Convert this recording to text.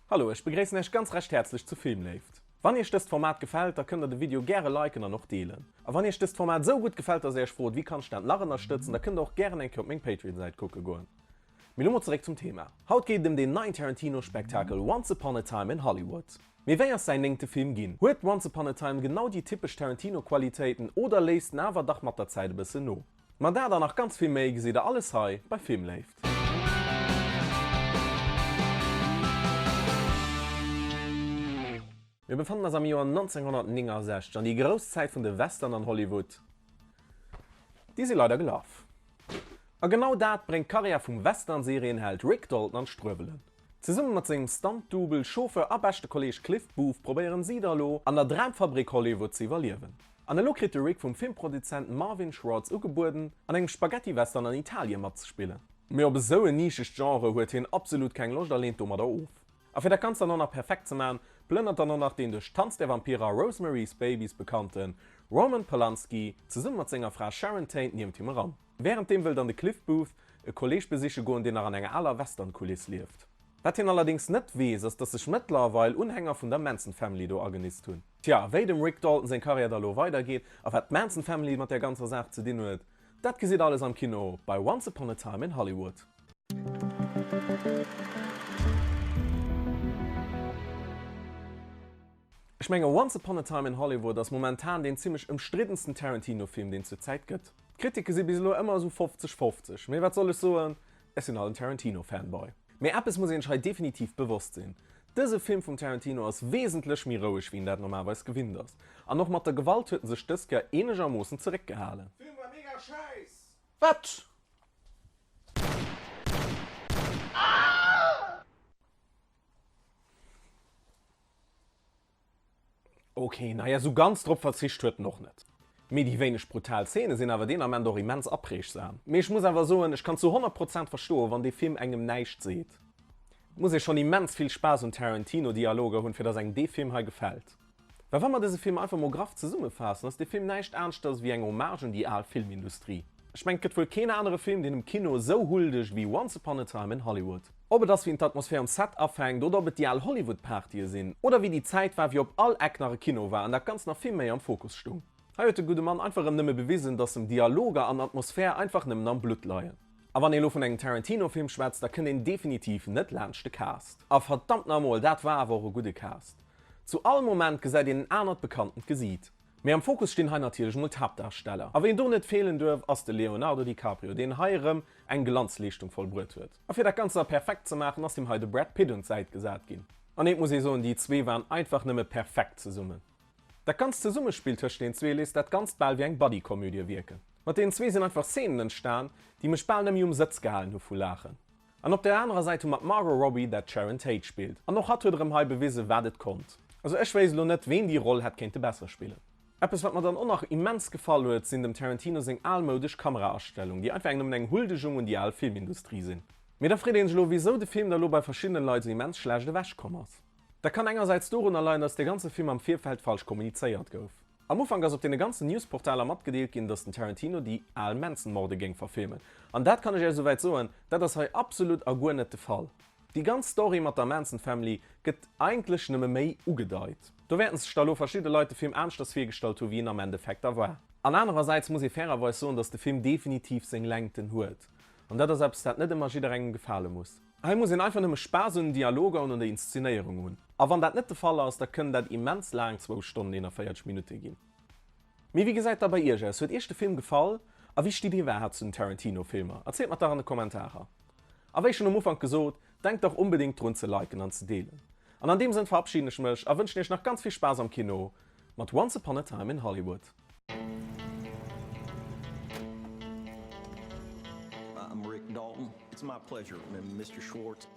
Hallo, ech begréissen Iech ganz recht häerzlech zu Filmléift. Wann Iech dëst Format gefält, da kënnt der de Video gäre liken an och deelen. A wann Iech dëst Format esou gutt gefält, dass Är Iech frot, wéi kann ech dat nach ënnerstëtzen, da kënnt der och gären eng Kéier op meng Patreon-Säit kucke goen. Mee lo mol zeréck zum Thema. Haut geet et ëm deen neien Tarantino-Spektakel Once Upon a Time in Hollywood. Mee wéi ass säin néngte Film ginn? Huet Once Upon a Time genau déi typesch Tarantino-Qualitéiten oder léisst en awer dach mat der Zäit e bëssen no? Ma dat an nach ganz vill méi gesitt der alles hei bei Filmléift. Mir befannen eis am Joer 1969 an déi grouss Zäit vun de Western an Hollywood déi si leider gelaf. A genau dat bréngt d'Karriär vum Western-Serienheld Rick Dalton an d'Struewelen. Zesumme mat sengem Stunt-Double, Chauffeur a beschte Kolleeg Cliff Booth probéieren si da lo, an der Dramfabrik Hollywood ze iwwerliewen. An elo kritt de Rick vum Filmproduzent Marvin Schwartz ugebueden, an engem Spaghetti-Western an Italien matzespillen. Mee op esou en nischegt Genre huet hien absolut keng Loscht a leent domadder of. A fir dat Ganzt dann och nach perfekt ze maachen, plënnert dann och nach deen duerch Tanz der Vampire a Rosemary's Babies bekannte Roman Polanski zesumme mat senger Fra Sharon Tate niewent him eran. Wärenddeem wëll dann de Cliff Booth e Kolleeg besiche goen, deen nach an enger aler Western-Kuliss lieft. Wat hien allerdéngs net weess, ass datt sech mëttlerweil Unhänger vun der Manson Family do agenist hunn. Tja, a wéi dem Rick Dalton seng Karriär da lo weidergeet, a wat d'Manson Family mat där ganzer Saach ze dinn huet, dat gesitt alles am Kino bei Once Upon a Time in Hollywood. Ech menge Once Upon a Time in Hollywood ass momentan deen zimmlech ëmstriddensten Tarantino-Film, deen zur Zäit gëtt. D'Kritike si bis elo ëmmer esou 50, 50, mee wat soll ech soen, ech sinn halt en Tarantino-Fanboy. Mee eppes muss een sech hei definitiv bewosst sinn, Dëse Film vum Tarantino ass wesentlech méi roueg wéi een dat normalweis gewinnt ass. An och mat der Gewalt huet en sech dëst Joer eenegermoossen zeréckgehalen. Film war mega schäiss! Wat? Ok, naja esou ganz drop verzicht huet en och net. Mee déi wéineg brutal Szene sinn awer deen Ament och immens apreegsam. Mee ech muss awer soen, ech kann zu 100 Prozent verstoen, wann dee Film engem näischt seet. Et muss ee schonn immens vill Spaass un Tarantino-Dialoger hunn, fir datt engem dee Film hei gefält. Mä wa mer dëse Film einfach mol graff zesummefaassen, ass dee Film näischt aneschters ewéi eng Hommage un déi al Filmindustrie. Ech mengen, et gëtt wuel keen anere Film, deen dem Kino esou huldeg ewéi Once Upon a Time in Hollywood. Ob et ass wien d'Atmosphär um Set afänkt oder ob et déi al Hollywood-Partye sinn oder wéi déi Zäit war, wéi op all Eck nach e Kino war an dat Ganzt nach vill méi am Fokus stung. Hei huet de gudde Mann einfach erëm nëmme bewisen, dass em Dialoger an Atmosphär einfach nëmmen am Blutt leien. A wann ee lo vun engem Tarantino-Film schwätzt, da kënnt een definitiv net laanscht de Cast. A verdammt na mol, dat war awer och e gudde Cast. Zu all Moment gesäit een en anert bekanntend Gesiit. Mee am Fokus stinn hei natierlech emol d'Haaptdarsteller. A ween do net feelen duerf, ass de Leonardo DiCaprio, deen hei erëm eng Glanzleeschtung vollbruet huet. A fir dat Ganzt nach perfekt ze maachen, ass him hei de Brad Pitt un d'Säit gesat ginn. An eent muss ee soen, déi zwee waren einfach nëmme perfekt zesummen. Dat ganzt Zesummespill tëscht den zwee léisst dat Ganzt bal wéi eng Buddy-Komödie wierken. Mat deenen zwee sinn einfach Szenen entstan, déi mech bal net méi um Sëtz gehalen hu vu Laachen. An op der anerer Säit hu mer d'Margot Robbie, dat d'Sharon Tate spillt. An och hatt huet erëm hei bewise wat et konnt. Also ech wéisst elo net, ween déi Roll hätt kéinte besser spillen. Eppes wat mer dann och nach immens gefall huet sinn dem Tarantino seng almoudesch Kameraastellung, déi einfach eng nëmmen eng Huldegung un déi al Filmindustrie sinn. Mee da freet een sech elo wisou de Film da lo bei verschiddenen Leit sou immens schlecht ewech komm ass. Dat kann engersäits dorunner leien dass de ganze Film am Virfeld falsch kommunizéiert gouf. Am Ufank ass op deene ganzen Newsportaler matgedeelt ginn dass den Tarantino déi al Manson-Morde géing verfilmen. An dat kann ech Iech esouwäit soen, dat ass hei absolut a guer net de Fall. Déi ganz Story mat der Manson Family gëtt eigentlech nëmme méi ugedeit. Do wäerten sech da lo verschidde Leit de Film aneschters virgestallt hu wéi en am Endeffekt da war. An anerersäits muss ee fairerweis soen, datt de Film definitiv seng Längten huet. An dat ass eppes, dat net ëmmer jidderengem gefale muss. Hei muss een einfach nëmme Spaass un den Dialoger un an der Inszenéierung hunn. A wann dat net de Fall ass, da kënn dat immens laang zwou Stonnen 41 Minutte ginn. Mee wéi gesäit da bei iech aus? Huet iech de Film gefall? A wéi stitt dir iwwerhaapt zu den Tarantino-Filmer? Erzielt mer dach an de Kommentarer! A wéi schonn um Ufank gesot, denkt dach onbedéngt drun ze liken an ze deelen. An an deem Sënn verabschieden ech mech a wënschen iech nach ganz vill Spaass am Kino mat Once Upon a Time in Hollywood.